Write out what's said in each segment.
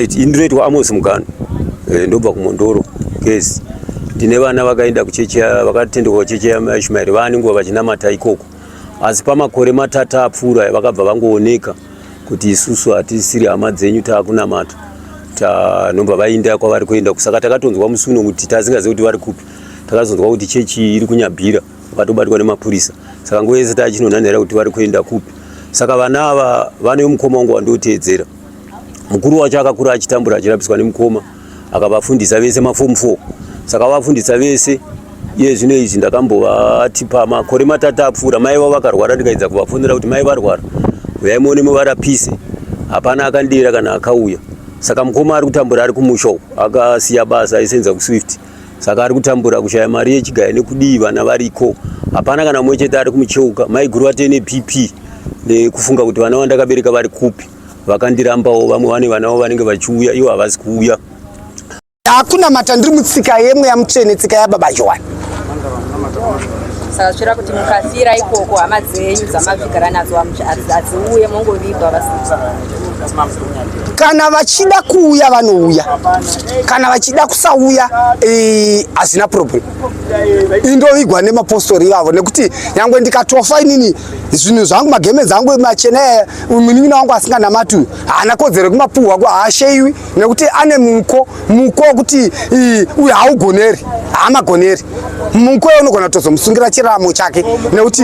Ndinoitwa Amos Mugano eh, ndobva kuMondoro Gezi. Ndine vana vakaenda kuchechi vakatendekwa kuchechi yaIshmaeri vane nguva vachinamata ikoko, asi pamakore matatu apfuura vakabva vangooneka kuti isusu hatisiri hama dzenyu taakunamata tanobva vainda kwavari kuenda kusaka takatonzwa musi uno kuti tasingazivi kuti vari kupi takazonzwa kuti chechi iri kunyabhira vakatobatwa nemapurisa saka nguva yese tachinonhanhira kuti vari kuenda kupi saka vana ava vane mukoma wangu wandoteedzera mukuru wacho akakura achitambura achirabiswa nemukoma akavafundisa vese mafomu four saka vafundisa vese iye zvino izvi ndakambovati pamakore matatu apfuura mai vavo vakarwara ndikaedza kuvafonera kuti mai varwara uyai muone muvarapise hapana akandira kana akauya saka mukoma ari kutambura ari kumusha uku akasiya basa aisenza kuswift saka ari kutambura kushaya mari yechigaya nekudii vana variko hapana kana mumwe chete ari kumucheuka maiguru vate nepp nekufunga kuti vana vandakabereka vari kupi vakandirambawo vamwe vane vanavo vanenge vachiuya ivo havasi kuuya hakuna mata ndiri mutsika yemwe yamutsvene tsika yababa johani saka zvichira kuti mukafira ikoko hama dzenyu dzamavigara nadzo hadziuye mongovigwa vasiva kana vachida kuuya vanouya kana vachida kusauya eh, hazina problem indovigwa nemapostori ivavo nekuti nyangwe ndikatofa inini zvinhu zvangu magemenzi angu machena eh, munin'ina wangu asinganamati uyu haana kodzero yekumapuhwa ko haasheiwi nekuti ane muko muko wekuti eh, uyu haugoneri haamagoneri muko ye unogona kutozomusungira chiramo chake nekuti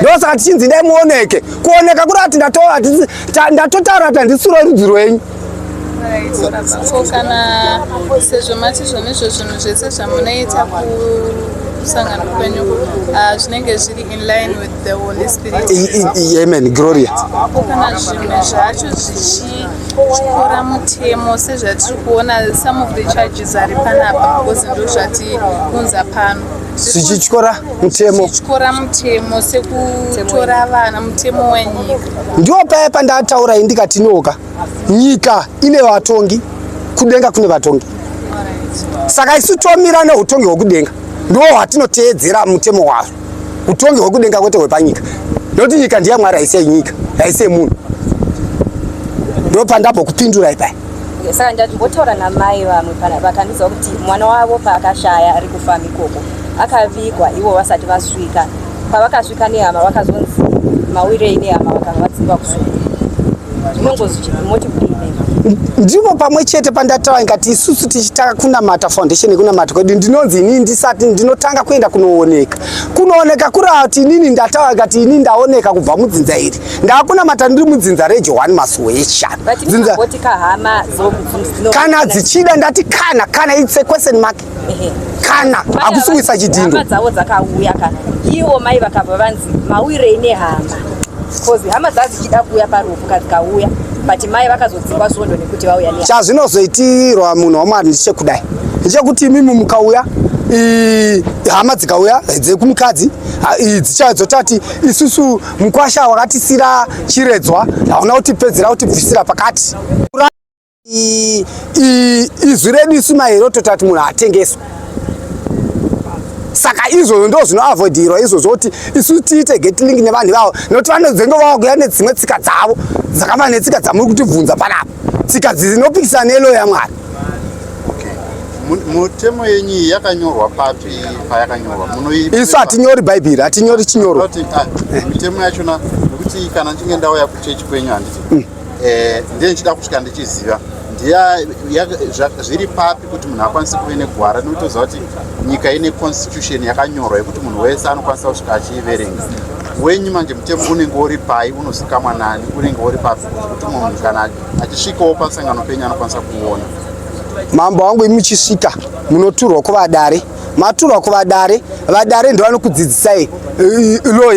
ndosaka tichinzi idai muoneke kuoneka kuri ati ndatotaura kuti handisi rorudzi rwenyu ko kana sezvo mati zvone izvo zvinhu zvese zvamunoita kusangana kwenyu ah, zvinenge zviri in line with the holy spirit amen gloria ko kana zvimwe zvacho zvichityora mutemo sezvatiri kuona some of the charges ari panapa because ndo zvatiunza pano zvichityora mutemo zvichityora mutemo sekutora vana mutemo wenyika ndiwo paya pandataura ini ndikati nyoka nyika ine vatongi kudenga kune vatongi saka isu tomira neutongi hwekudenga ndiwo hwatinoteedzera mutemo wazvo utongi hwekudenga kwete hwepanyika nekuti nyika ndiyamwari haise nyika haise munhu ndopandabokupindura ipaya saka ndimbotaura namai vamwe vakandiudza kuti mwana wavo paakashaya ari kufamba ikoko akavigwa ivo vasati vasvika pavakasvika nehama vakazonzi mawirei nehama vakanga vadzingwa kusvika ndipo pamwe chete pandataura ndikati isusu tichitanga kunamata foundation yekunamata kwedu ndinonzi inini ndisati ndinotanga kuenda kunooneka kunooneka kuri kuti inini ndataura ndikati inini ndaoneka kubva mudzinza iri ngakunamata ndiri mudzinza rejohani masuhesha kana dzichida ndati kana kana its a question mark kana hakusi kuisa chidhindo dzavo dzakauya kana ivo mai vakabva vanzi mauirei nehama bcause hama dzadzichida kuuya parufu kadzikauya but mai vakazodzingwa svondo nekuti vauya ne chazvinozoitirwa munhu wamwari ndichekudai ndichekuti imimi mukauya hama dzikauya dzekumukadzidzotati isusu Mkwasha wakatisira chiredzwa hauna kutipedzera kutibvisira pakati. Izwi redu isu maheroto tati munhu hatengeswe. Saka izvozvo ndo zvinoavoidirwa izvozvo kuti isu tiite get link nevanhu ivavo nokuti vanozenge vakuya nedzimwe tsika dzavo dzakava netsika dzamuri kutibvunza panapa tsika dzinopikisana neloya mwari mutemo yenyu iyi yakanyorwa papi payakanyorwa isu hatinyori bhaibheri hatinyori chinyorwa ah, mitemo yachona nekuti kana ndichinge ndauya kuchechi kwenyu handiti mm. eh, ndiye ndichida kusvika ndichiziva zviri papi kuti munhu akwanise kuve negwara nokutoziva kuti nyika ine constitution yakanyorwa yekuti munhu wese anokwanisa kusvika achiiverenga wenyu manje mutemo unenge uri pai unozikamwa nani unenge uri papi kuti munhu kana achisvikawo pasangano penyu anokwanisa kuona mambo wangu imi muchisvika munoturwa kuvadare maturwa kuvadare vadare ndovanokudzidzisai lo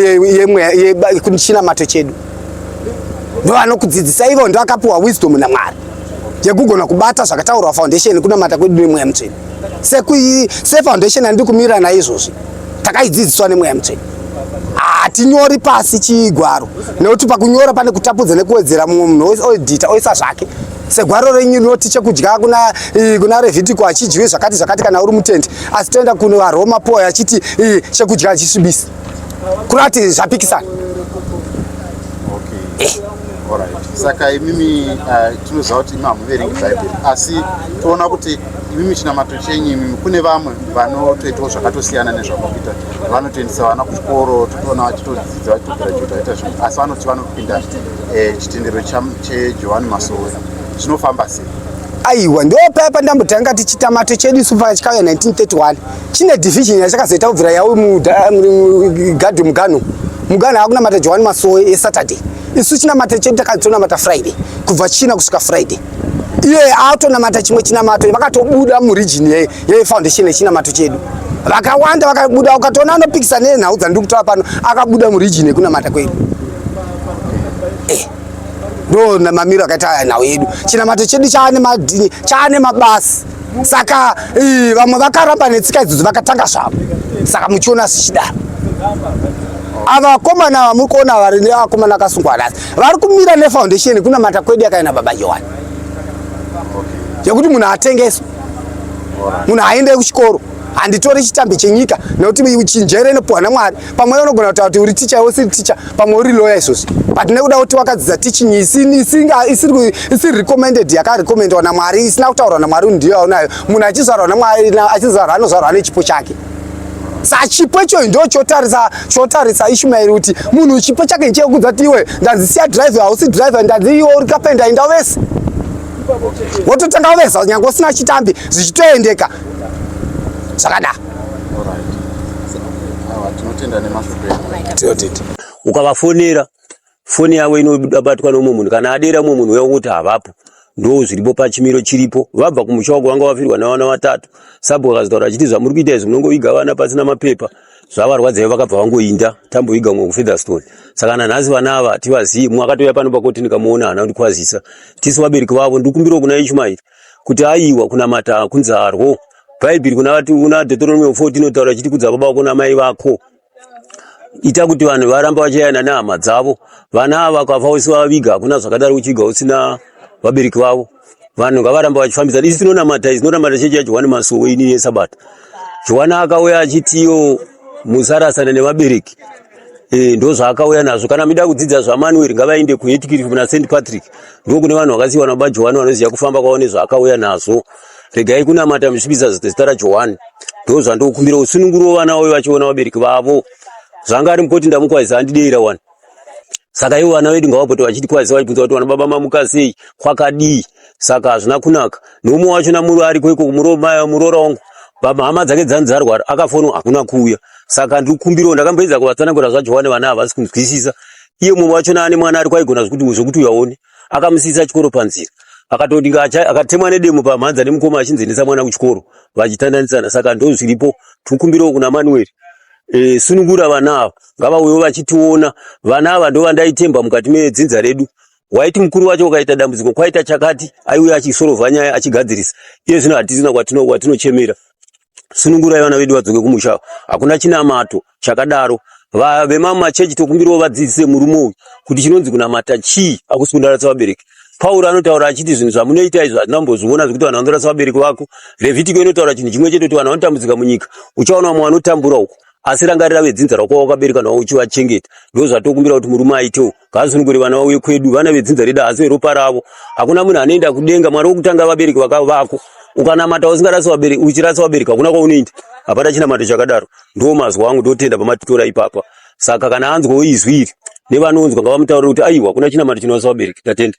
yechinamato chedu ndovanokudzidzisa ivo ndovakapiwa wisdom namwari yekugona kubata zvakataurwa foundation kunamata kwedu nemweya mutsveni sekuyi sefoundation andiri kumirira naizvozvi takaidzidziswa nemweya mutsvene hatinyori pasi chigwaro nekuti pakunyora pane kutapudza nekuwedzera mumwe munhu oedita oisa zvake segwaro renyu rinoti chekudya kuna kuna revhitiko achidyiwi zvakati zvakati kana uri mutendi asi toenda kuno varoma poa achiti chekudya achisvibisi kurati zvapikisana okay. eh saka imimi uh, tinoziva kuti imi hamuverengi bhaibheri asi toona kuti Imimi chinamato chenyu imimi, kune vamwe vanotoitawo zvakatosiyana nezvamakuita, vanotoendesa vana kuchikoro, totoona vachitodzidza vachitogirajuta vaita zvinhu, asi vanoti vanopinda eh, chitendero chejohani masowe zvinofamba sei? aiwa ndopaya pandambotanga tichitamato chedu isu paka chikauya 1931 chine division yachakazoita kubvira yawo mugadhi mugano mugano akunamata johani masowe esaturday isu chinamata chedu takazotonamata friday kubva china kusvika friday iye atonamata chimwe chinamato vakatobuda muregion yefoundation yechinamato chedu vakawanda vakabuda ukatoona anopikisa nenhau dzandiri kutaura pano akabuda muregion yekunamata kwedu eh, ndo mamiro akaita nhau yedu chinamato chedu chaane madini chaane mabasi saka eh, vamwe vakaramba netsika idzodzo vakatanga zvavo saka muchiona zvichidaro ava vakomana vamuri kuona vari nevakomana akasungwa nhasi vari kumira nefoundation kunamata kwedu yakaenda baba johani yekuti munhu atengeswe munhu aende kuchikoro handitore chitambi chenyika nekuti chinjere inopuhwa namwari pamwe unogona kutaura kuti uri ticha usiri ticha pamwe uri loya izvozvi but nekuda kuti wakadzidza teaching isiri recommended yakarecommendwa namwari isina kutaurwa namwari ndiyo yaunayo munhu achizvarwa namwari achizvarwa anozvarwa nechipo chake sa chipo ichoyo ndo chotarisa chotarisa ishumaeri kuti munhu chipo chake chekudza kuti iwe ndanzi siya drive hausi drive ndanzi iwe uri kapenda inda wese wototanga waveza nyange usina chitambi zvichitoendeka zvakadaro ukavafonera foni yavo inobatwa neumwe munhu kana adera umwe munhu uya kuti havapo ndo zviripo pachimiro chiripo vabva kumusha wako vanga vafirwa navana vatatu sabhuku akazotaura achiti zvamuri kuita izvi munongoviga vana pasina mapepa zvavarwadzaivo vakabva vangoinda tamboviga mwe kufeatherstone saka nanhasi vana ava tivazivi mumwe akatouya pano pakoti ndikamuona hana kundikwazisa tisu vabereki vavo ndikumbirawo kuna ishumairi kuti aiwa kunamata kunzarwo bhaibheri kuna dhotoromeo 4 inotaura chiti kudza baba vako namai vako ita kuti vanhu varamba vachiyana nehama dzavo vana ava vakafa usivaviga hakuna zvakadaro uchiviga usina vabereki vavo vanhu ngavaramba vachifambidzana isi tinonamata isi tinonamata chechi yajohwani masuwo ini yesabata johwani akauya achitiyo musarasana nevabereki Eh, ndo zvaakauya nazvo kana mida kudzidza zvamanueri ngavaende kuhetkirif muna st patrick ndokune vanhu vakasiyiwa nababa johani vanoziva kufamba kwavo nezvaakauya nazvo regai kunamata muchipisa zita rajohani ndo zvandokumbira usununguro vana vavo vachiona vabereki vavo zvanga ari mukoti ndamukwazisa handideira wani saka ivo vana vedu ngavapote vachitikwazisa vachibvunza kuti vana baba mamuka sei kwakadii saka hazvina kunaka neumwe wacho namuri ariko iko muroora wangu hama dzake dzani dzarwara akafonwa hakuna kuuya saka ndiri kukumbirawo ndakamboedza kuvatsanangura zvajohani vana havasi kunzwisisa iye mumwe wacho naane mwana ari kwaigona zvekuti uyu aone akamusiisa chikoro panzira akatoti akatemwa nedemo pamhanza nemukoma achinzi endesa mwana kuchikoro vachitandanisana saka ndozviripo tikumbirawo kuna manueri e, sunungura vana ava ngavauyewo vachitiona vana ava ndovandaitemba mukati medzinza redu waiti mukuru wacho wakaita dambudziko kwaita chakati aiuya achisorovha nyaya achigadzirisa iye zvino hatisina kwatinochemera sunungurai vana vedu vadzoke kumusha hakuna chinamato chakadaro vemamachechi tokumbirawo vadzidzise murume uyu kuti chinonzi kunamata chii akusi kundaratsa vabereki pauro anotaura achiti zvinhu zvamunoita izvi hazvina kumbozviona zvekuti vanhu vanoratsa vabereki vako revhitiko inotaura chinhu chimwe chete kuti vanhu vanotambudzika munyika uchaona vamwe vanotambura uko asi rangarira vedzinza rako wakabereka nawo uchivachengeta ndozvatokumbira kuti murume aitewo Ngaasunungure vana vauye kwedu, vana vedzinza redu haasi veropa ravo. Hakuna munhu anoenda kudenga, Mwari wokutanga vabereki vakavako. Ukanamata usingarasi vabereki, uchirasa vabereki hakuna kwaunoenda. Hapana chinamato chakadaro. Ndiwo mazwi angu ndotenda pamatitora ipapa. Saka kana anzwawo izwi iri nevanonzwa ngavamutaurire kuti aiwa hakuna chinamato chinorasa vabereki. Ndatenda.